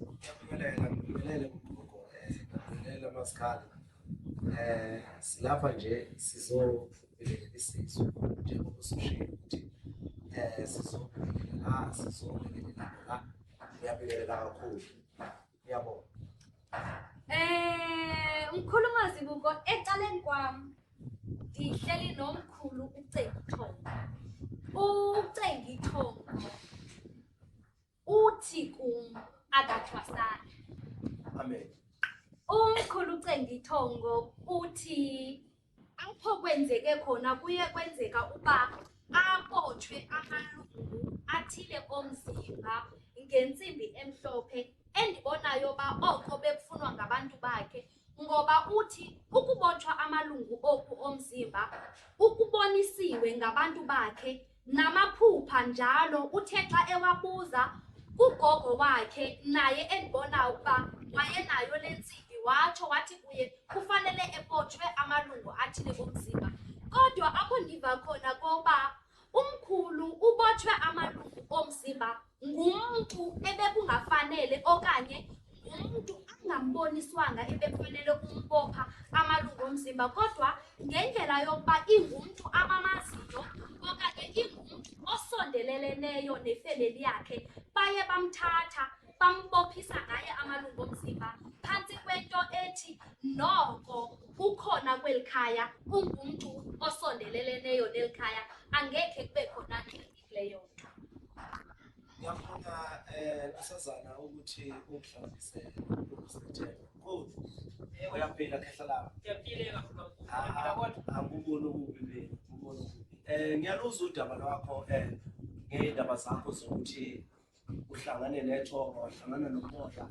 Ngiyabingelela, ngibingelele kugogo, ngibingelele amasikhala. Eh silapha nje sizobingelela isizwe njengoba usushilo ukuthi eh sizobingelela sizobingelela la. Ngiyabingelela kakhulu. Ngiyabonga. Eh umkhulu mazi kuko ecaleni kwami ngihleli nomkhulu uCengi Thongo. UCengi Thongo Uthi kum akathwasanga. Amen. Umkhulu uCengithongo uthi apho kwenzeke khona kuye kwenzeka uba abotshwe amalungu athile omzimba ngentsimbi emhlophe endibonayo uba oko bekufunwa ngabantu bakhe ngoba uthi ukubotshwa amalungu oku omzimba ukubonisiwe ngabantu bakhe namaphupha njalo uthe xa ewabuza kugogo wakhe naye endibona ukuba wayenayo le ntsimbi watsho wathi kuye kufanele ebotshwe amalungu athile komzimba kodwa apho ndiva khona koba Umkhulu ubotshwe amalungu omzimba ngumuntu ebekungafanele okanye umuntu angamboniswanga ebekufanele umbopha amalungu omzimba kodwa ngendlela yokuba ingumntu abamaziyo okanye ingumntu osondeleleneyo nefemeli yakhe baye bamthatha Bambophisa ngaye amalungu omzimba phansi kwento ethi noko ukhona kweli khaya ungumntu osondeleleneyo neli khaya angekhe kube khona ngxini kuleyo nto ngiyafuna um asazana ukuthi uhlazise ukusethemba kodwa uyaphila khehla labo anguboni okubi mina nguboni okubi um ngiyaluzwa udaba lwakho um ngey'ndaba zakho zokuthi uhlangane nethongo wahlangana nomoya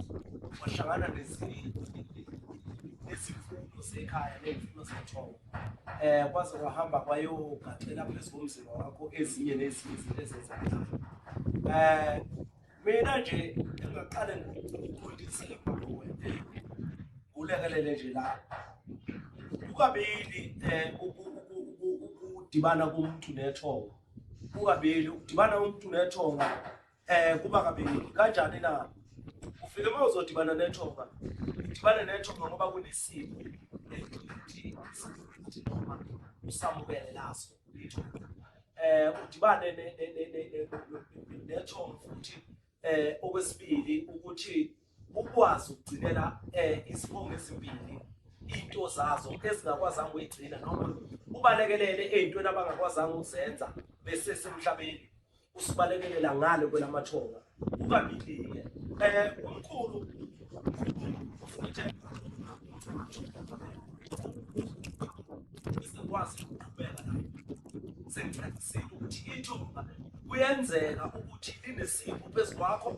wahlangana nezimfuno zekhaya ney'mfuno zethongo um kwaze kwahamba kwayogaxela phezu komzimba wakho ezinye nezinye izinto ezenzakala um eh, mina nje engaqale ngokuqondisile kulekelele nje la kukabili um ukudibana komuntu nethongo kukabili ukudibana umuntu nethonga um kuba kabili kanjani na ufike uma uzodibana nethonga udibane nethonga ngoba kunesimo usamukele laso eh udibane nethonga futhi eh okwesibili ukuthi ukwazi ukugcinela eh isibongo ezimbili into zazo ezingakwazanga uyigcina noma ubalekelele ezintweni abangakwazanga ukuzenza bese semhlabeni usibalekelela ngale kwelamathonga ukabilike eh umkhulu futhi sikwazi ukuqhubeka nayo sengicacisile ukuthi ithonga kuyenzeka ukuthi linesipho phezu kwakho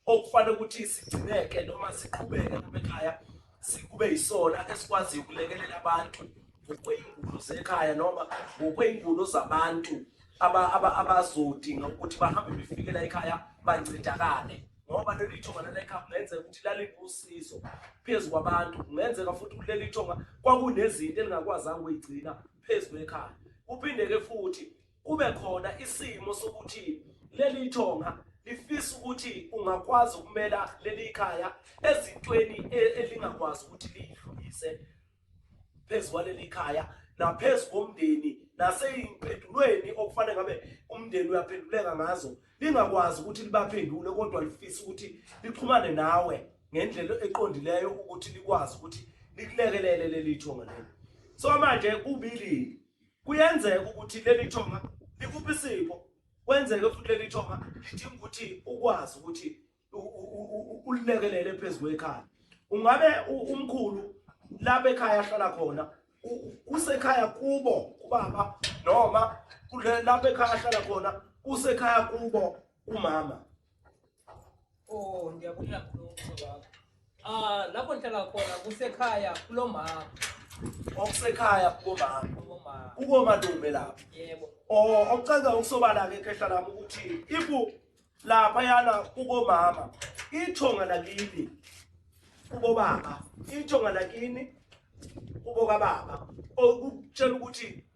okufanele ukuthi sigcineke noma siqhubeke lapha ekhaya sikube yisona esikwaziyo ukulekelela abantu ngokweyingulo zekhaya noma ngokweyingulo zabantu abazodinga ukuthi bahambe befikela ekhaya bancedakale ngoba leli thonga lalekhaya kungenzeka ukuthi laliwusizo phezu kwabantu kungenzeka futhi ukuthi leli thonga kwakunezinto elingakwazanga ukuyigcina phezu kwekhaya kuphinde-ke futhi Kube khona isimo sokuthi leli thonga lifisa ukuthi ungakwazi ukumela leli khaya ezintweni e-, elingakwazi ukuthi liyidlulise phezu kwaleli khaya naphezu komndeni nasey'mpendulweni okufanele ngabe umndeni uyaphenduleka ngazo lingakwazi ukuthi libaphendule kodwa lifisa ukuthi lixhumane nawe ngendlela eqondileyo ukuthi likwazi ukuthi likulekelele leli thonga leli so manje kubili Kuyenzeka ukuthi leli thonga likuphi isipho kwenzeke futhi leli thonga lidinga ukuthi ukwazi ukuthi ulilekelele phezu kwekhaya ungabe umkhulu lapha ekhaya ahlala khona kusekhaya kubo kubaba noma lapha ekhaya ahlala khona kusekhaya kubo kumama Oh, ndiyabulela kulo wakho. Ah, lapho ndihlala khona kusekhaya kulo mama. Okusekhaya kubo mama. Kubo mama. Kubo madumbe lapho. Yebo. Oh, okucaza ukusobala ke khehla lami ukuthi ibu lapha yana kubo mama. Ithonga lakini. Kubo baba. Ithonga lakini. Kubo kababa. Okutshela ukuthi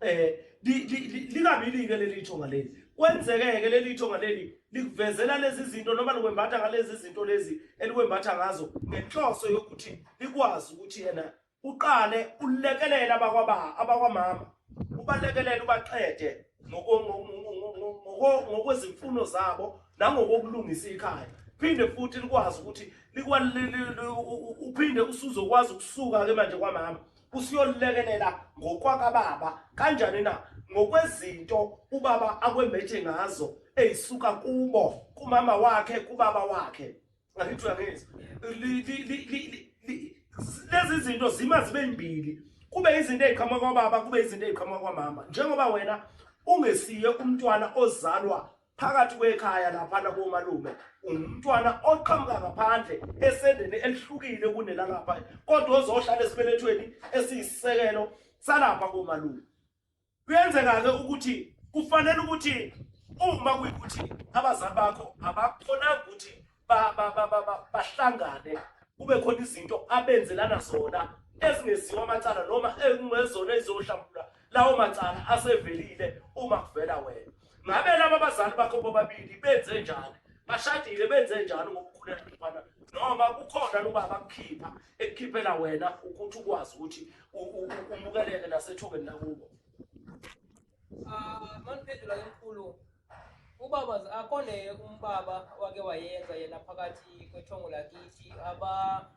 eh likabili-ke leli thonga leli kwenzeke-ke leli thonga leli likuvezela lezi zinto noma likwembatha ngalezi zinto lezi elikwembatha ngazo ngenhloso yokuthi likwazi ukuthi yena uqale ulekelele abakwababa abakwamama ubalekelele ubaqede ngokwezimfuno zabo nangokokulungisa ikhaya phinde futhi likwazi ukuthi uphinde usuzokwazi ukusuka-ke manje kwamama usuyolilekelela ngokwakababa kanjani na ngokwezinto ubaba akwembeje ngazo eyisuka kubo kumama wakhe kubaba wakhe ngakithi uyangizwa lezi zinto zima zibe mbili kube izinto eziqhamuka kwababa kube izinto eziqhamuka kwamama njengoba wena ungesiye umntwana ozalwa phakathi kwekhaya laphana komalume umntwana oqhamuka ngaphandle esendeni elihlukile kunelangapha kodwa ozohlala esibelethweni esiyisekelo salapha komalume kuyenzeka-ke ukuthi kufanele ukuthi uma kuyikuthi abazali bakho abakhonanga ukuthi bahlangane kube khona izinto abenzelana zona ezingeziwa amacala noma ekungezona ezizohlambulula lawo macala asevelile uma kuvela wena ngabe laba abazali bakho bobabili benze njani bashadile benze njani ngokukhuleka mfana noma kukhona loba abakukhipha ekukhiphela wena ukuthi ukwazi ukuthi umukeleke nasethubeni lakubo Ah, maniphendula ke mkhulu. Ubaba akone umbaba wake wayenza yena phakathi kwethongo lakithi aba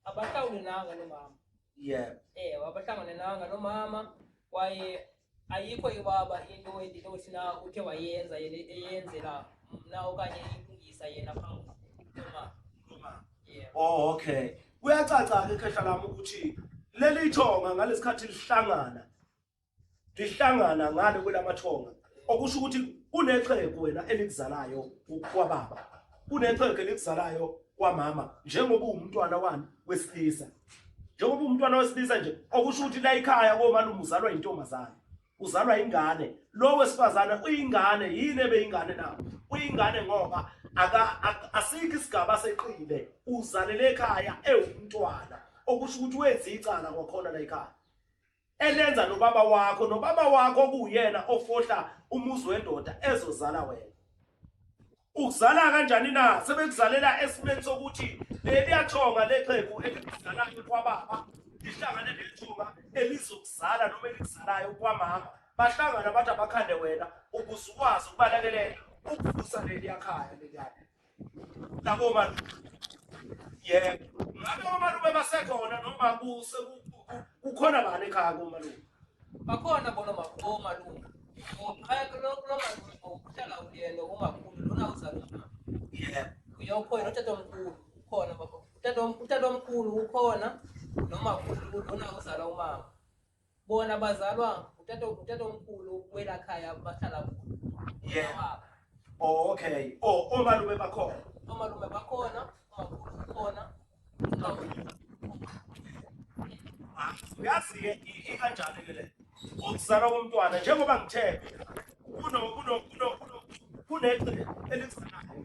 abahlawuli nanga nomama. Yeah. Eh, wabahlangane nanga nomama kwaye ayikho ibaba into endinothi na uthe wayenza yena eyenzela mna okanye ilungisa yena phambi nomama. Nomama. Yeah. Oh, okay. Kuyacaca ke khehla lami ukuthi leli thonga ngalesikhathi lihlangana lihlangana ngale kwelamathonga okusho ukuthi kunexhegu wena elikuzalayo kwababa kunexhegu elikuzalayo kwamama njengoba uwumntwana wani wesilisa njengoba umntwana wesilisa nje okusho ukuthi la ikhaya komalume uzalwa intombazane uzalwa ingane lo wesifazane uyingane yini ebeyingane na uyingane ngoba aka asikho isigaba seqile uzalele ekhaya ewumntwana okusho ukuthi wenza icala kwakhona la ikhaya elenza nobaba wakho nobaba wakho kuyena ofohla umuzi wendoda ezozala wena ukuzala kanjani na sebekuzalela esimeni sokuthi leliyathonga lexhegu elizalayo kwababa lihlangane nethunga elizokuzala noma elizalayo kwamama bahlangana bathi abakhande wena ukuze ukwazi ukubalekelela ukuvusa leliyakhaya leliyana Nabo malume. Yebo. Ngabe omalume basekhona noma kuse kukhona bani ekhaya komalume? Bakhona bona omalume. Ngoqhaya kulo kulo malume ngokuhlala uyena umakhulu lona uzalwa. Yebo. Uyokhona utata omkhulu khona baba. Utata omkhulu ukhona noma khulu lona uzalwa umama. Bona bazalwa utata utata omkhulu wela khaya bahlala kulo. Yeah. Oh okay. Oh omalume bakhona. Omalume bakhona, omakhulu bakhona. Ah, uyazi ke ikanjani ke le. Ukuzalwa komntwana njengoba ngithe kuno kuno kuno kuno kunegcine elizanayo.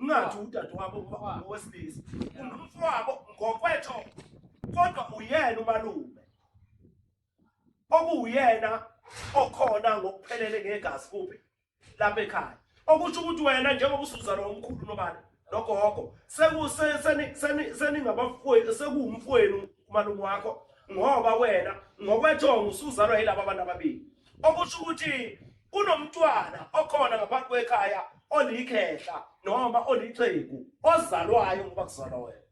ungathi udadewabo ngoba ngowesilisa umfowabo ngokwetho kodwa uyena umalume okuwuyena okhona ngokuphelele ngegazi kuphi lapha ekhaya okusho ukuthi wena njengoba usuzalo omkhulu nobani nogogo seningabafowenu sekuwumfowenu umalume wakho ngoba wena ngokwethongo usuzalwa yilaba abantu ababili okusho ukuthi Kunomntwana okhona ngaphansi kwekhaya olikhehla noma olixhegu ozalwayo ngoba kuzalwa wena.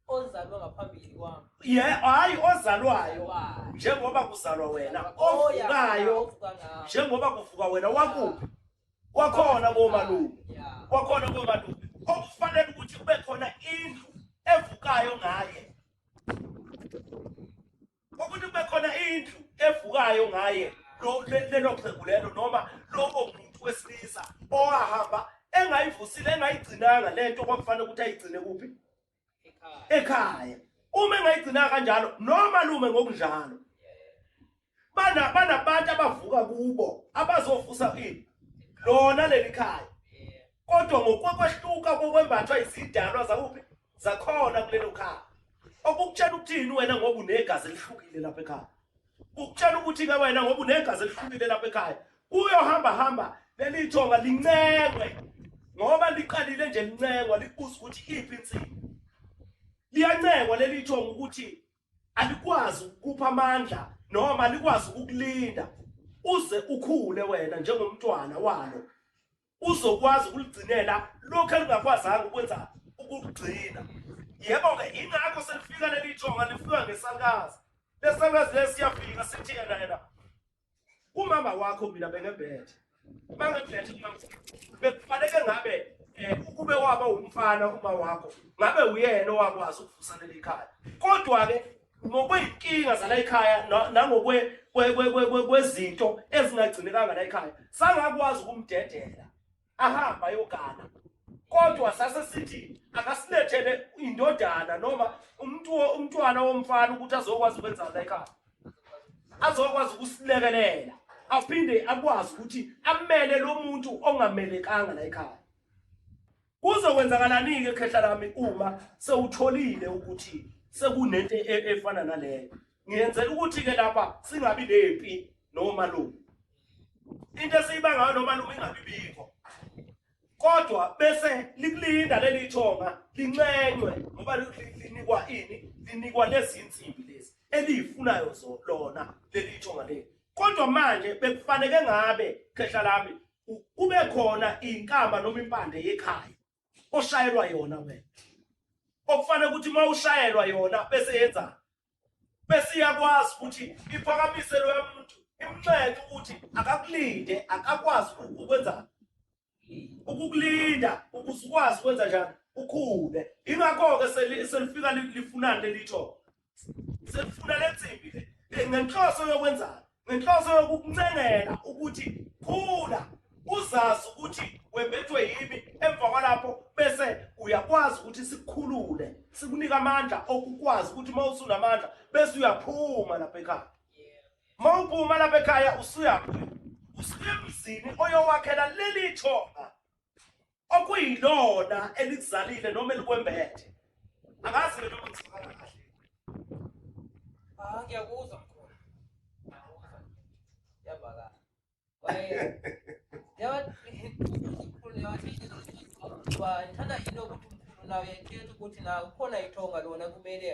ozalwa ngaphambili kwami Ye hayi ozalwayo Ozalwayo. njengoba kuzalwa wena Oya, ovukayo ovuka ngawo. njengoba kuvuka wena wakuphi wakhona komalume Ya. wakhona komalume okufanele ukuthi kube khona indlu evukayo ngaye ukuthi kube khona indlu evukayo ngaye lelo xhegu lelo noma lowo muntu wesilisa owahamba engayivusile engayigcinanga le nto kwakufanele ukuthi ayigcine kuphi ekhaya uma engayigcinanga kanjalo noma lume ngokunjalo banabantu abavuka kubo abazovusa ini lona leli khaya kodwa ngokwekwehluka kokwembathwa izidalwa zakuphi zakhona kulelo khaya okukutshela ukuthini wena ngoba unegazi elihlukile lapha ekhaya ukutshela ukuthi-ke wena ngoba unegazi elihlukile lapha ekhaya kuyohamba hamba leli thonga lincengwe ngoba liqalile nje lincengwa libuza ukuthi iphi insini liyancengwa leli thonga ukuthi alikwazi ukupha amandla noma alikwazi ukukulinda uze ukhule wena njengomntwana walo uzokwazi ukuligcinela lokho elingakwazanga ukwenza ukugcina yebo-ke ingakho selifika leli thonga lifika ngesalukazi lesalukazi le siyafika sithi yena yena umama wakho mina bengebhethe bangebhethe bekufaneke ngabe Eh, ukube waba umfana uma wakho ngabe uyena owakwazi ukuvusa leli khaya kodwa-ke ngokwey'nkinga zalayikhaya nangokwezinto ezingagcinekanga layikhaya sangakwazi ukumdedela ahamba ayogana kodwa sase sithi akasilethele indodana noma umuntu umntwana womfana ukuthi azokwazi ukwenza layikhaya azokwazi ukusilekelela aphinde akwazi ukuthi amele lo muntu ongamelekanga layikhaya Kuzokwenzakalani-ke khehla lami uma sewutholile ukuthi sekunento e, e, efana naleyo? Ngiyenzela ukuthi-ke lapha singabi nempi nomalume. Into esiyiba ngayo nomalume ingabi bikho. Kodwa bese likulinda leli thonga lincenywe ngoba linikwa ini? Linikwa lezi insimbi lezi eliyifunayo zona leli thonga leli. Kodwa manje bekufanele ngabe khehla lami kube khona inkamba noma impande yekhaya oshayelwa yona wena okufanele ukuthi uma ushayelwa yona bese yenza bese iyakwazi ukuthi iphakamise loya muntu imnxenxe ukuthi akakulinde akakwazi ukwenza ukukulinda ukuze ukwazi ukwenza njani ukhule ingakho-ke selifika lifunani lelitho sefuna lensimbi le eh, ngenhloso yokwenzana ngenhloso yokukuncengela ukuthi khula uzazi ukuthi wembethwe yimi emva kwalapho bese uyakwazi ukuthi sikukhulule sikunike amandla okukwazi ukuthi uma usunamandla bese uyaphuma lapha ekhaya uma uphuma lapha ekhaya usuyaphi usuke emzini oyowakhela leli thonga okuyilona elikuzalile noma elikwembethe angazi mina ukuthi ngibala kahle ah ngiyakuzwa mkhulu ngiyakuzwa yabala waye yawa mkhulu yawa ngithanda yini ukuthi umkhulu nawe yethetha ukuthi na ukhona ithonga lona kumele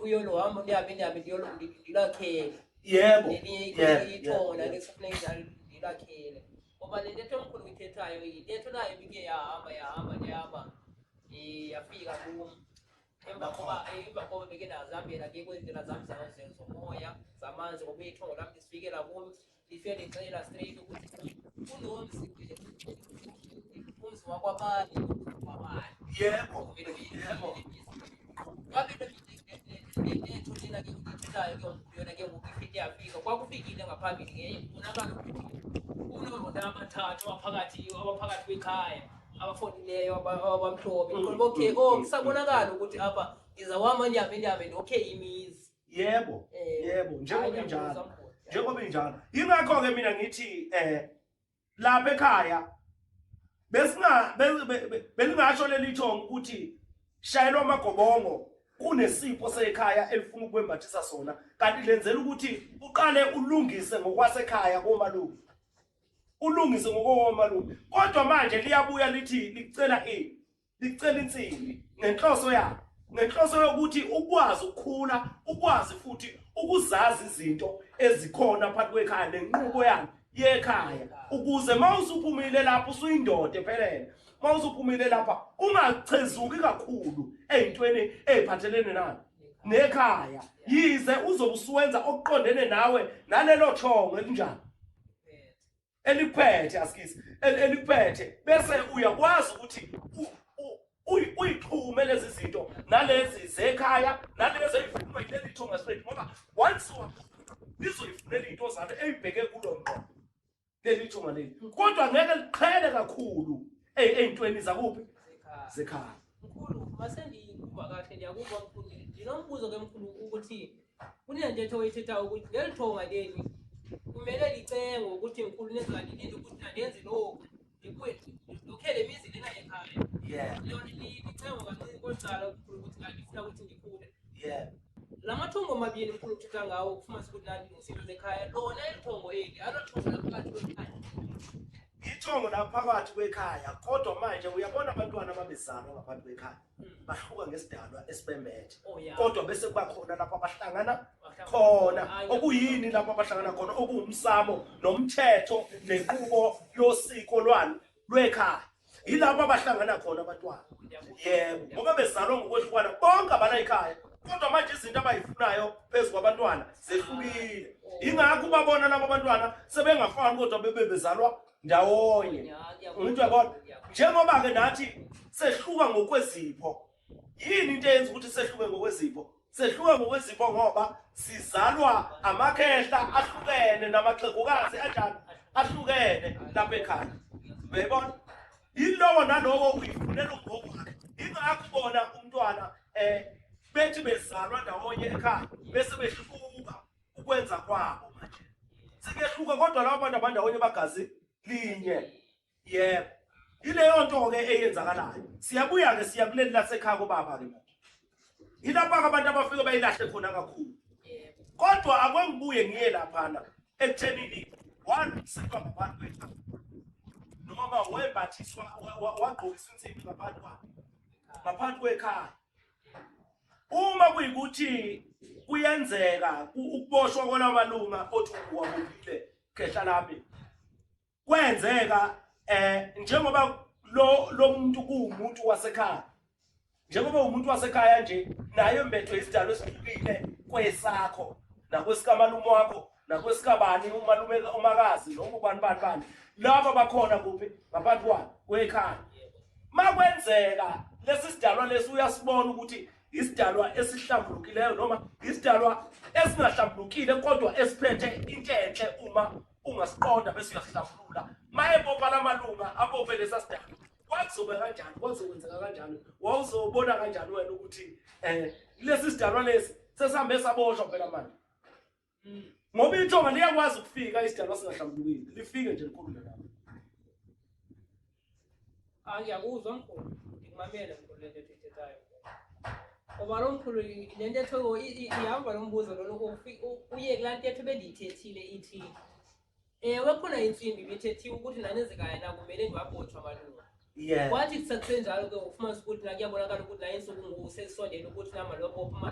uyolohambo ndihambe ndihambe ndiyolakhela yebo yebo ithonga lalesofuneka ndiyolakhele ngoba le ntetho omkhulu uyithethayo yintetho nayo ibike yahamba yahamba yahamba eh, yafika kum emva koba eh, emva koba beke ndazihambela ke kwezi ndlela zam zomoya zamanzi ngoba ithongo lam ndisifikela kum lifike ndixela straight ukuthi kunomzi umzi wakwabani wakwabani yebo yebo kwakufikile ngaphambili ngeye kubonakala ukuthi kunoronda amathathu abaphakathi abaphakathi kwekhaya abafonileyo abamhlophe mm. okay mm. oh kusabonakala ukuthi apha iza wama nyabe nyabe okay imizi yebo eh, yebo njengoba injalo njengoba injalo yingakho-ke mina ngithi um lapha ekhaya besinga belingasho leli thongo ukuthi shayelwa amagobongo kunesipho sekhaya elifuna ukwembathisa sona kanti lenzela ukuthi uqale ulungise ngokwasekhaya komalume ulungise ngokomalume kodwa manje liyabuya lithi licela ini licela insimbi ngenhloso yakhe ngenhloso yokuthi ukwazi ukukhula ukwazi futhi ukuzazi izinto ezikhona phakathi kwekhaya nenqubo yakhe yekhaya ukuze mawusuphumile lapho usuyindoda ephelele mawusuphumile lapha ungachezuki kakhulu ezintweni eziphathelene nayo nekhaya yize uzobusuwenza okuqondene nawe nalelo thongo elinjani elikuphethe askisi elikuphethe bese uyakwazi ukuthi uyixhume lezi zinto nalezi zekhaya nalezi ezifunwa yileli thonga straight ngoba once lizoyifunela into zalo eyibheke kulo ngqo leli thonga leli kodwa ngeke liqhele kakhulu eyintweni zakuphi zekhaya mkhulu masengiyikhumba kahle ndiyakuba mkhulu ndinombuzo ke mkhulu ukuthi Kunentetho oyithethayo ukuthi leli thonga leli kumele licenge ukuthi nkulu nezanilinde ukuthi nandenze lokhu ndikwethu lokhele imizi lena yekhaya yeah lona licengo kancini kocala ukukhulu ukuthi kanti funa ukuthi ndikhule yeah la mathongo mabili mkhulu uthetha ngawo kufumanisa ukuthi nandi ngezinto zekhaya lona elithongo eli alothongo laphakathi kwekhaya ithongo laphakathi kwekhaya kodwa manje uyabona abantwana ababezalwa ngaphansi kwekhaya bahluka ngesidalwa esibembethe oh, kodwa bese kuba khona lapho abahlangana khona okuyini lapho abahlangana khona okuwumsamo nomthetho nenqubo yosiko lwalo lwekhaya yilapho abahlangana khona abantwana yebo ngoba bezalwa ngokwehlukana bonke abana ikhaya kodwa manje izinto abayifunayo phezu kwabantwana zehlukile ingakho ubabona labo bantwana sebengafani kodwa bebe bezalwa ndawonye umuntu yabona njengoba ke nathi sehluka ngokwezipho yini into eyenza ukuthi sehluke ngokwezipho sehluke ngokwezipho ngoba sizalwa amakhehla ahlukene namaxegukazi anjani ahlukene lapha ekhaya uyayibona yilowo nalowo uyifunela ugogo wakhe ingakho bona umntwana um bethi bezalwa ndawonye ekhaya bese behluka ukwenza kwabo manje sekuyehluka kodwa laba bantu abandawonye bagazi linye yebo yileyo nto ke eyenzakalayo siyabuya ke siya kuleli lasekhaya kobaba ke manje yilapha ke abantu abafike bayilahle khona kakhulu kodwa akwengibuye ngiye laphana ekuthenini walukiselwa ngabantu bethu noma wembathiswa wagqokiswa insimbi ngaphansi kwakhe ngaphansi kwekhaya uma kuyikuthi kuyenzeka ukuboshwa kwalawo malunga othi uwabophile khehla lami kwenzeka eh njengoba lo lo muntu kuwumuntu wasekhaya njengoba umuntu wasekhaya nje naye mbethwe isidalo esihlukile kwesakho nakwesikamalumi wakho nakwesikabani umalume umakazi noma ubani bani bani laba bakhona kuphi ngaphansi kwani kwekhaya makwenzeka lesi sidalwa lesi uyasibona ukuthi isidalwa esihlambulukileyo noma isidalwa esingahlambulukile kodwa esiphethe into enhle uma ungasiqonda bese uyasihlambulula mayebopha la malunga abophe lesa sidalwa kwakuzobe kanjani kwakuzokwenzeka kanjani wawuzobona kanjani wena ukuthi um lesi sidalwa lesi sesihambe saboshwa phela manje ngoba ithonga liyakwazi ukufika isidalwa singahlambulukile lifike nje likhulume nami angiyakuzwa ah, mkhulu ngikumamele mkhulu lento ethethayo ngoba lo mkhulu lento etho ihamba lo mbuzo lona uye kulaa ntetho bendiyithethile ithi ewe khona intsimbi ibithethiwe ukuthi nanenzekayo nakumele ndiwabotshwa malunga yeah wathi kusakusenjalo ke ufumanisa ukuthi nakuyabonakala ukuthi naye nsuku ngoku sesisondele ukuthi namaloko ophuma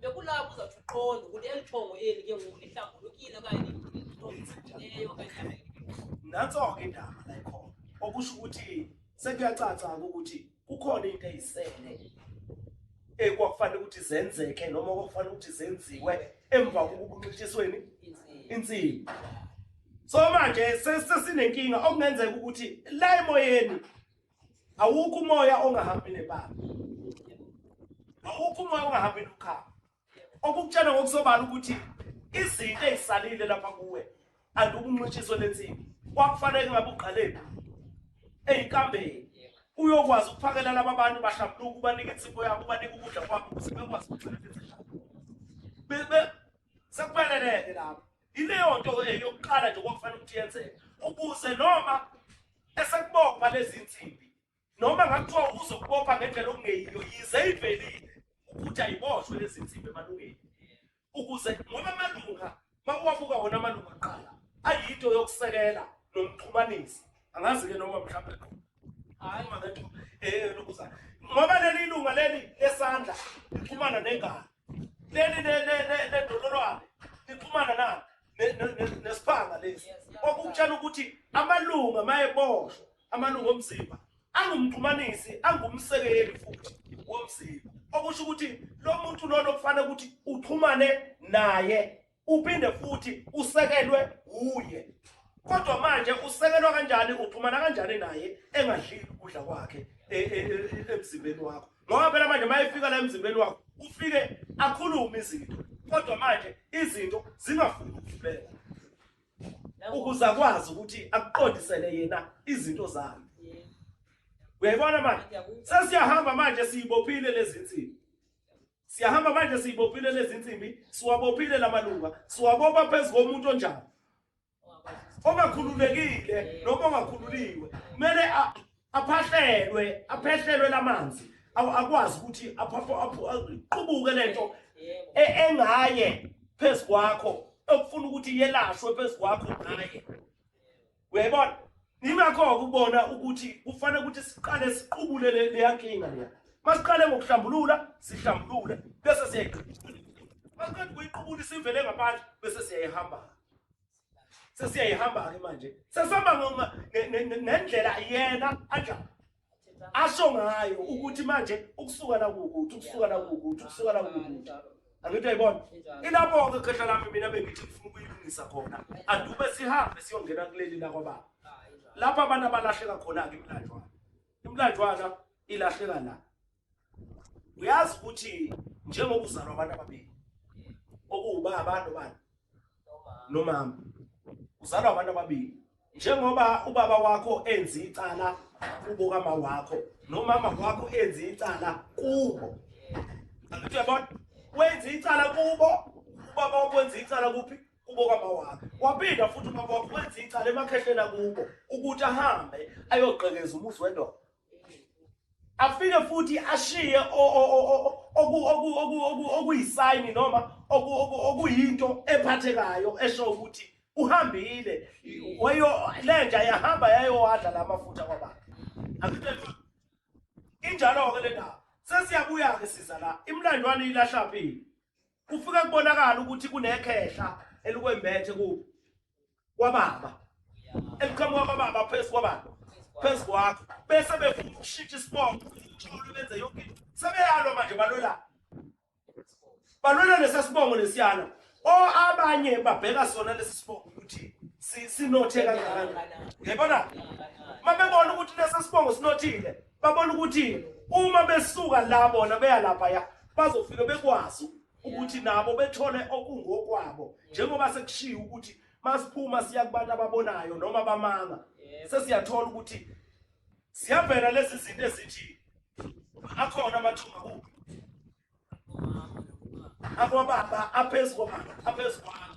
bekulapho uzawuthi uqonde ukuthi eli thongo eli ke ngoku lihlambulukile okanye liqondileyo okanye nanso-ke indaba la ikhona okusho ukuthi sekuyacaca-ke ukuthi kukhona into eyisele ekwakufanele ukuthi zenzeke noma kwakufanele ukuthi zenziwe emva kokukunxishisweni insimbi so manje sesinenkinga okungenzeka ukuthi la emoyeni awukho umoya ongahambi nebala awukho umoya ongahambi nokhaba okukutshela ngokusobala ukuthi izinto ezisalile lapha kuwe andukunqitshiso lensimbi kwakufanele ngabe uqalephi eyinkambeni uyokwazi ukuphakela laba bantu bahlambuluka ubanike insipho yabo ubanike ukudla kwabo ukuze bekwazi ukugcina sekufaneleke lapho Ileyo nto ke yokuqala nje kwakufanele ukuthi yenzeke ukuze noma esekubopha lezi nsimbi noma ngakuthiwa uzokubopha ngendlela okungeyiyo yize ivelile ukuthi ayiboshwe lezi nsimbi emalungeni ukuze ngoba amalunga makuwabuka wona amalunga aqala ayinto yokusekela nomxhumanisi angazi-ke noma mhlawumbe hayi eh lokuza ngoba leli lunga leli lesandla liphumana nengane leli ledololwane liphumana na nesiphanga lesi okukutshela ukuthi amalunga mayeboshwa amalunga omzimba angumxhumanisi angumsekeli futhi womzimba okusho ukuthi lo muntu lona kufanele ukuthi uxhumane naye uphinde futhi usekelwe wuye kodwa manje usekelwa kanjani uxhumana kanjani naye engadlile ukudla kwakhe e, e, e, emzimbeni wakho ngoba phela manje mayefika la emzimbeni wakho ufike akhulume izinto kodwa manje izinto zingafuni ukuvela ukuze akwazi ukuthi akuqondisele yena izinto zakhe uyayibona manje sesiyahamba manje siyibophile lezi nsimbi Siyahamba manje siyibophile lezi insimbi, siwabophile lamalunga, siwabopha phezu komuntu onjani. Ongakhululekile noma ongakhululiwe, kumele aphahlelwe, aphehlelwe lamanzi. Akwazi ukuthi aphapho aqubuke lento e, engaye phezu kwakho okufuna ukuthi yelashwe phezu kwakho ngaye. uyayibona ingakho ukubona ukuthi kufanele ukuthi siqale siqubule leya nkinga leya masiqale ngokuhlambulula sihlambulule bese siyayiqubula masiqeda ukuyiqubula isivele ngaphandle bese siyayihamba sesiyayihamba-ke manje sesihamba ngendlela yena anjani asho ngayo ukuthi manje ukusuka la kukuthi ukusuka la kukuthi ukusuka la kukuthi angithi ayibona ilapho-ke khehla lami mina bengithi ngifuna ukuyilungisa khona andube sihambe siyongena kuleli lakwababa lapho abantu abalahleka khona-ke imlanjwana imlanjwana ilahleka la uyazi ukuthi njengoba uzalwa abantu ababili okuwubaba nobani nomama uzalwa abantu ababili njengoba ubaba wakho enza icala kubo kama wakho nomama wakho enza icala kubo angithi uyabona wenza icala kubo ubaba wakho wenza icala kuphi kubo kama wakho waphinda futhi ubaba wakho wenza icala emakhehleni akubo ukuthi ahambe ayoqhekeza umuzi wendoda afike futhi ashiye okuyisayini noma okuyinto ephathekayo esho ukuthi uhambile wayo lenja yahamba yayowadla la mafutha kwababa injalo-ke le ndaba sesiyabuya-ke siza la imlandwane ilahlaphi kufike kubonakala ukuthi kunekhehla elikwembethe kubo kwababa eliqhamuka kwababa phezu kwababa phezu kwakho bese befuna ukushintsha isibongo uthole benze yonke into sebeyalwa manje balwela balwela lesa sibongo lesiyana o abanye babheka sona lesi sibongo ukuthi sinothe kanjani ngiyabona mabebona ukuthi lesa sibongo sinothile babona ukuthi uma besuka la bona beya lapha ya bazofika bekwazi ukuthi nabo bethole okungokwabo njengoba sekushiya ukuthi masiphuma siya kubantu ababonayo noma bamanga sesiyathola ukuthi siyavela lezi zinto ezithi akhona amathuba kuphi akwababa aphezu kwababa aphezu kwami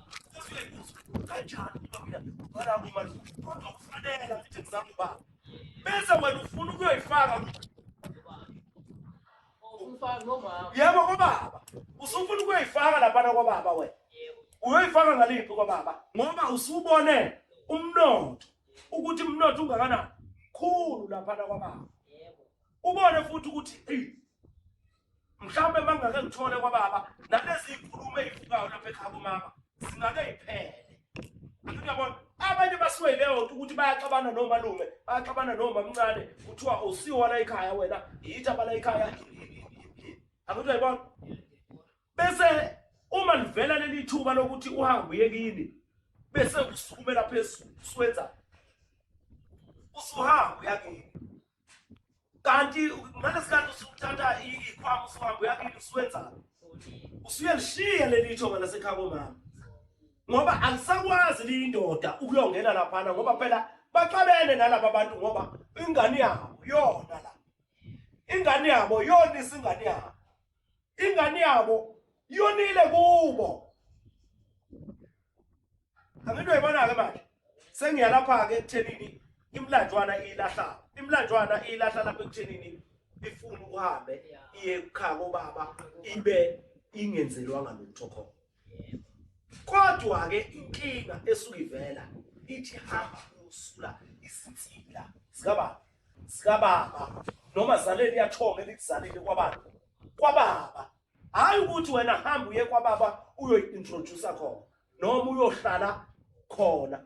kanjani ubabona uma kodwa kufanele ukuthi ngizama ubaba bese wena ufuna ukuyoyifaka yebo kobaba usufuna ukuyoyifaka laphana kobaba wena uyoyifaka ngaliphi kobaba ngoba usubone umnotho ukuthi umnotho ungakanani khulu laphana kwababa ubone futhi ukuthi mhlawumbe mangake ngithole kwababa nalezi nkulumo ezivukayo lapha ekhaya kumama singake iphele uyabona abanye basuke leyo nto ukuthi bayaxabana nomalume bayaxabana nomamncane kuthiwa usiwa la ekhaya wena yitha bala ekhaya akuthi uyayibona bese uma livela leli thuba lokuthi uhambe uye kini bese usukumela phezulu usuwenza usuhamba uyakini kanti ngalesikhathi usuthatha ikhwama usuhamba uyakini usuwenzani usuyelishiya leli ithonga lasekhaya komama ngoba alisakwazi liyindoda ukuyongena laphana ngoba phela baxabene nalaba bantu ngoba ingane yabo yona la ingane yabo yona isingane yabo ingane yabo yonile kubo angento yibona-ke manje sengiyalapha-ke ekuthenini imlanjwana iyilahla imlanjwana iyilahla lapha ekuthenini ifuna uhambe iye kukhaya kobaba ibe ingenzelwanga lutho khona kodwa ke inkinga esuke ivela ithi hamba uyosula izinsila zikababa zikababa noma zaleni yathonga elikuzalile kwababa kwababa hayi ukuthi wena hamba uye kwababa uyoyi-introduce khona noma uyohlala khona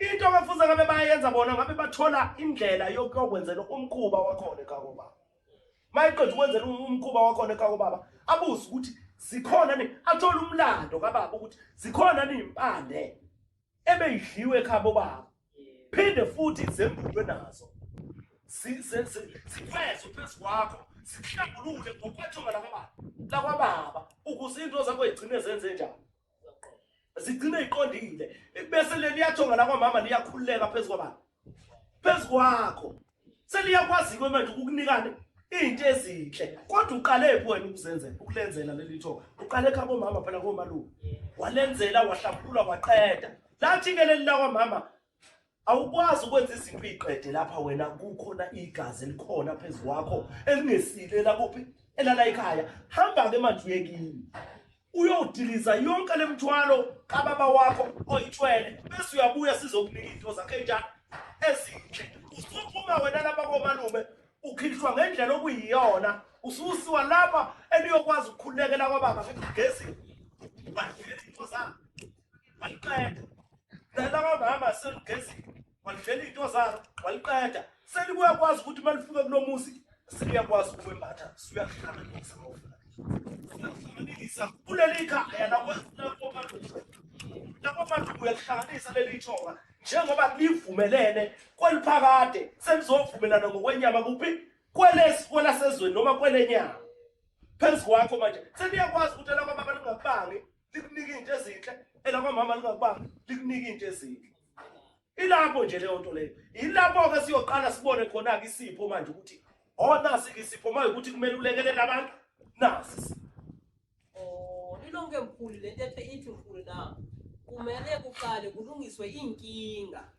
into abafuza ngabe bayenza bona ngabe bathola indlela yokuyokwenzela umkhuba wakhona ekhaya kobaba mayeqeda ukwenzela um-, umkhuba wakhona ekhaya kobaba abuze ukuthi zikhona ni athole umlando kababa ukuthi zikhona ni impande ebeyidliwe ekhaya bobaba phinde futhi zembulwe nazo sikwezwe phezu kwakho sihlambulule ngokwethunga lakwababa lakwababa ukuze into zakho igcine zenze njani zigcine iqondile bese leli yathonga la kwamama liyakhululeka phezu kwabani phezu kwakho seliyakwazi ke manje ukukunikane into ezinhle kodwa uqale phi wena ukuzenzela ukulenzela leli thonga uqale kha komama phela komalume walenzela wahlaphula waqeda lathi ke leli la kwamama Awukwazi ukwenza izinto uyiqede lapha wena kukhona igazi elikhona phezu kwakho elingesile lakuphi elala ekhaya hamba-ke manje uye kimi uyodiliza yonke le mthwalo kababa wakho oyithwele bese uyabuya sizokunika izinto zakhe njalo ezinhle usuphuma wena lapha komalume ukhishwa ngendlela okuyiyona ususiwa lapha eniyokwazi ukukhululekela kwababa ngezini waliqeda dala kamama selugezile walivela iy'nto zalo waliqeda selikuyakwazi ukuthi uma lifike kulo muzi seliyakwazi ukwembatha suyahlanganisa uyahlanganisa kuleli khaya lakomaduku uyalihlanganisa leli thoba njengoba livumelene kweliphakade selizovumelana ngokwenyama kuphi kwelesi kwelasezweni noma kwelenyama phezu kwakho manje seliyakwazi ukuthi elakho abantu ngabangi likunika into ezinhle elakwamama lingakubanga likunika into ezinhle ilapho nje leyo nto leyo yilapho ke siyoqala sibone khona ke isipho manje ukuthi onasi oh, ke isipho manje ukuthi kumele ulekelele abantu nasi oh ilonke mkhulu lento ethe ithi mkhulu na kumele kuqale kulungiswe inkinga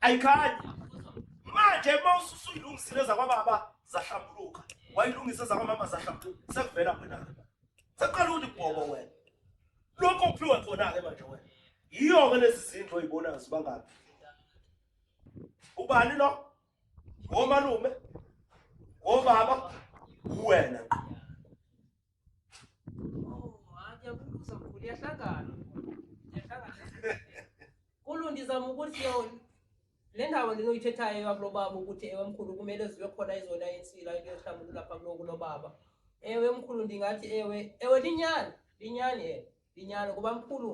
ayikhanyi manje uma ususuyilungisile zakwababa zahlambuluka wayilungise zakwamama zahlambuluka sekuvela wena sekuqala ukuthi bhobo wena lokho kuphiwe khona-ke manje wena yiyo-ke lezi zindlu oyibonayo zibangaphi ubani lo ngomalume ngobaba uwena Kulu ndizama ukuthi yona le ndawo ndinoyithethayo yakulo baba ukuthi ewe mkhulu kumele zibe khona izona insila into yohlamba ukulapha kuloku lo baba ewe mkhulu ndingathi ewe ewe linyani linyani ewe linyani kuba mkhulu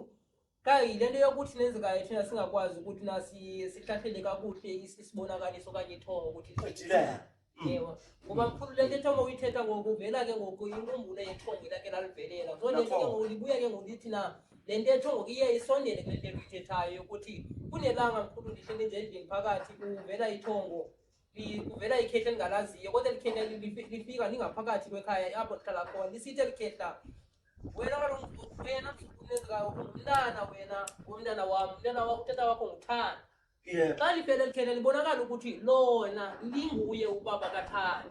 Kayi lento yokuthi nenzekayo thina singakwazi ukuthi nasi sihlahlele kakuhle is- isibonakaliso okanye ithongo ukuthi Ejilele. yebo ngoba mkhulu lento ethongo uyithetha ngokuvela ke ngoku inkumbulo yethongo ilake lalivelela so lento ke Lapho. ngoku libuya ke ngoku lithi na le nto ethongo iye isondele kule nto uyithethayo yokuthi kunelanga mkhulu ndihleli nje endlini phakathi kuvela ithongo Kuvela ikhehla elingalaziyo kodwa elikhehla lifika lingaphakathi kwekhaya apho lihlala khona lisithi elikhehla wena kaloku wena msukunezikayo ungumntana wena womntana wam umntana wakho utata wakho nguthanda xa liphela elikhehla libonakala ukuthi lona linguye ubaba kathanda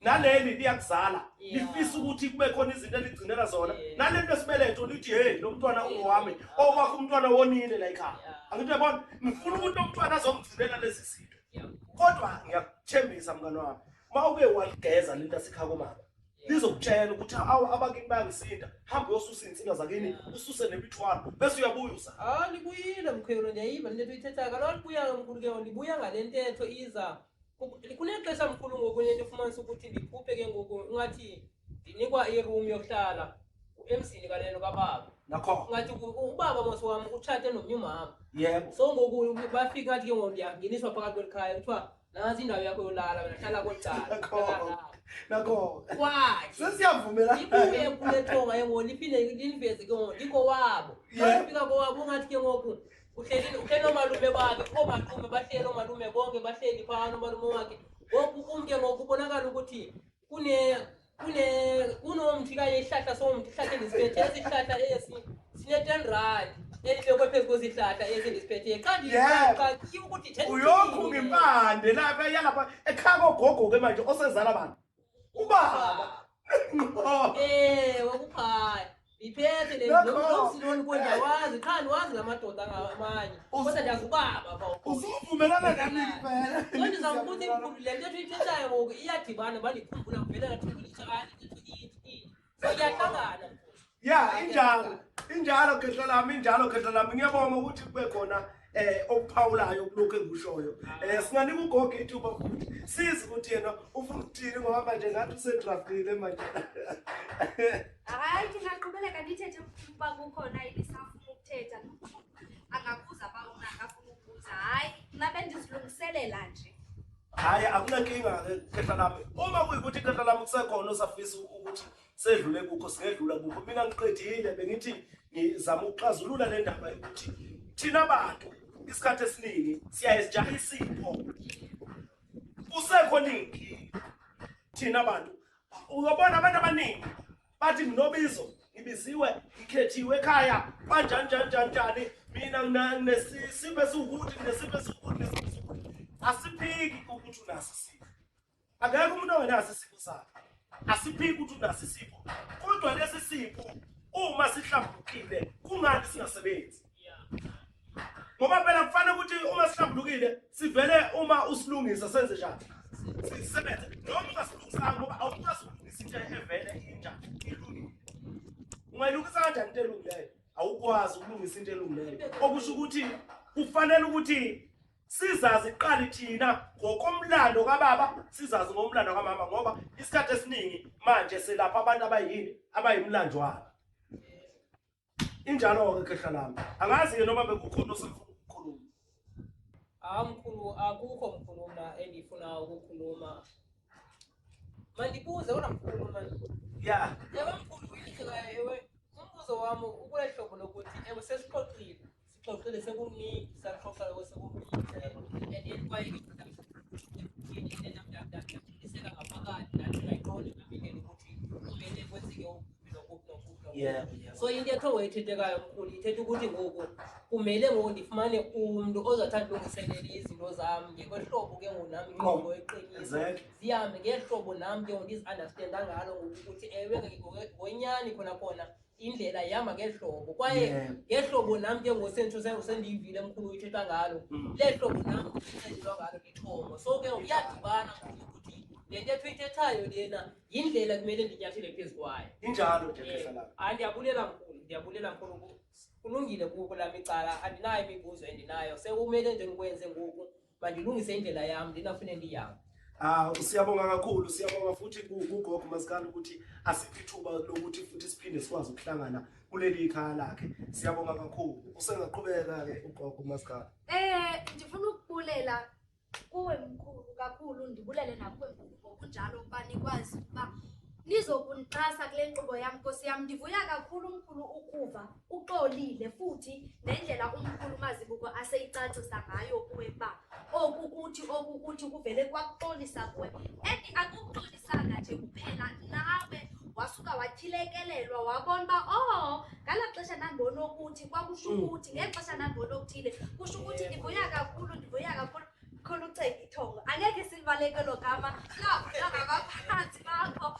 naleli liyakuzala lifisa ukuthi kube khona izinto eligcinela zona nalento esibeletho lithi hey lo mntwana ungowami owakho umntwana wonile la ekhaya angithi uyabona ngifuna ukuthi lo mntwana azongigcinela lezi zinto kodwa ngiyakuthembisa mngane wami uma uke waligeza lento asikha komama lizokutshela ukuthi awu abakini bayangisinda hambe uyosusa iy'nsinga zakini ususe nemithwalo bese uyabuya uza ah libuyile mkhwelo ndiyayiva le ntetho uyithethayo kalolibuya-ke mkhulu ke libuya ngale ntetho iza kunexesha mkhulu ngoku into efumanisa ukuthi ndiphuphe ke ngoku ingathi ndinikwa iroom yokuhlala emzini kaneno kababa nakho ngathi ubaba mos wam utshate nomnye umama yebo so ngoku bafika ngathi ke ngoku ndiyangeniswa phakathi kweli khaya kuthiwa nantsi indawo yakho yolala wena hlala kwelcala nakho kwathi sesiyavumela ibuye kule thonga ke ngoku liphinde lindiveze ke ngoku ndikho wabo bafika kowabo ungathi ke ngoku uhleli uhleli omalume bakhe omaqume bahleli omalume bonke bahleli phana omalume wakhe ngoku kumke ngoku kubonakala ukuthi kune kune kunomthi kanye isihlahla somthi ihlahla endisiphethe esihlahla esi sine-ten rand elibekwe phezu kwezihlahla esi ndisiphethe qandiqaqi ukuthi uyokhu ngempande lapha yalapha ekhaka ogogoke manje osezala bantu ubaba eh wakuphaya iphethe le nomsiloni konje wazi qha wazi ngamadoda ngamanye kodwa nje ubaba ba usuvumelana nami kuphela konje sangibuthi inkulu le nto ethu ithethayo ngoku iyadibana balikhumbula kuphela ngathi ukuthi Siyahlangana. Yeah, injalo. Injalo khehla lami, injalo khehla lami. Ngiyabonga ukuthi kube khona eh okuphawulayo kulokho engikushoyo eh singanika ugogo ithuba futhi sizi ukuthi yena ufuna ukuthini ngoba manje ngathi usedraftile manje hayi ngingaqhubeleka ndithethe ukuba kukhona ibisafuna ukuthetha angakuza bawona akafuna ukuza hayi mna bendizilungiselela nje Hayi akunankinga khehla lami. Uma kuyikuthi khehla lami kusekhona osafisa ukuthi sedlule kukho singedlula kukho. Mina ngiqedile bengithi ngizama ukuxazulula le ndaba yokuthi thina bantu isikhathi esiningi siyaye sijahe isipho. Kusekhona inkinga thina bantu. Uyobona abantu abaningi bathi nginobizo ngibiziwe ngikhethiwe ekhaya banjani njani njani njani mina nginesipho esiwukuthi nginesipho esiwukuthi nesipho esiwukuthi asiphiki ukuthi unaso isipho akekho umuntu ongenaso isipho sakhe asiphiki ukuthi unaso isipho kodwa lesi sipho uma sihlambukile kungani singasebenzi ngoba phela kufanele ukuthi uma sihlambulukile sivele uma usilungisa senze njani sisebenze noma ungasilungisanga ngoba awukwazi ukulungisa into evele injani ilungile ungayilungisa kanjani into elungileyo awukwazi ukulungisa into elungileyo okusho ukuthi kufanele ukuthi sizazi iqali thina ngokomlando kababa sizazi ngomlando kamama ngoba isikhathi esiningi manje selapha abantu abayini abayimlanjwana injalo-ke khehla lami angazi-ke noma bekukhona osefuna ukukhuluma hawu mkhulu akukho mkhulu mna engifuna ukukhuluma mandibuze kodwa mkhulu man ya yaba mkhulu umbuzo wami ukulehlobo lokuthi ewe sesixoxile Sixoxile sekuningi saxoxa lokho sekuningi and yet kwaye iseka ngaphakathi nathi ngayiqonde ngaphindele ukuthi kumele kwenzeke ukuphi nokuphi nokuphi Yeah, yeah. so into ekhe wayethethekayo mkhulu ithetha ukuthi ngoku kumele ngoku ndifumane umntu ozathanda ulungiselele izinto zam ngekwehlobo ke ngoku nam ingqondo eqinile Exactly. zihambe ngehlobo nam ke ngoku ndizi-understanda ngalo ngoku ukuthi ewe ngonyani khona khona indlela ihamba ngehlobo kwaye ngehlobo nam ke ngosentsho sendiyivile emkhulu uyithetha ngalo mm. le hlobo nam enxenyelwa ngalo lithongo so ke uyadibana ukuthi le ntetho ithethayo lena yindlela kumele ndinyathele phezu kwayo injalo hayi ndiyabulela mkhulu ndiyabulela mkhulu kulungile kuko lam icala andinayo imibuzo endinayo sekumele nje ndikwenze ngoku mandilungise indlela yam ndinafune ndiyam Ah siyabonga kakhulu siyabonga futhi kugogo masikhala ukuthi asiphi ithuba lokuthi futhi siphinde sikwazi ukuhlangana kuleli ikhaya lakhe siyabonga kakhulu usengaqhubeka ke ugogo masikhala Eh ndifuna ukubulela kuwe mkhulu kakhulu ndibulele nakuwe mkhulu ngokunjalo ukuba nikwazi ukuba nizokunixhasa kule nkqubo yam nkosi yam ndivuya kakhulu mkhulu ukuva Uxolile futhi nendlela umkhulu uMazibuko aseyicacisa ngayo kuwe ba oku kuthi oku kuthi kuvele kwakuxolisa kuwe and akuxolisanga nje kuphela nawe wasuka wathilekelelwa wabona uba oh ngala xesha nambona okuthi kwakusho Mm. ukuthi ngexesha nambona okuthile kusho ukuthi ndivuya kakhulu ndivuya kakhulu khona uceka ithongo angeke silibalekelo gama labo nangabaphansi bakho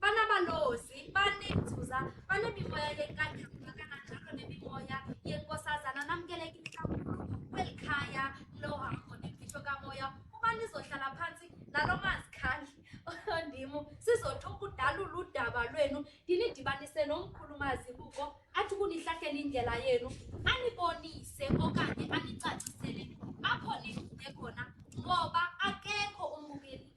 Banabalozi, banenzuza, banemimoya yenkantolo kananjalo nemimoya yenkosazana namukeleke inhlawulo kweli khaya lohambo nemfihlo kamoya uma nizohlala phansi nalo mazikhandli ondimu sizotha ukudalula udaba lwenu ndinidibanise nomkhulumazi kuko athi kunihlahlele indlela yenu anibonise okanye anicacisele apho nivuke khona ngoba akekho umbukeli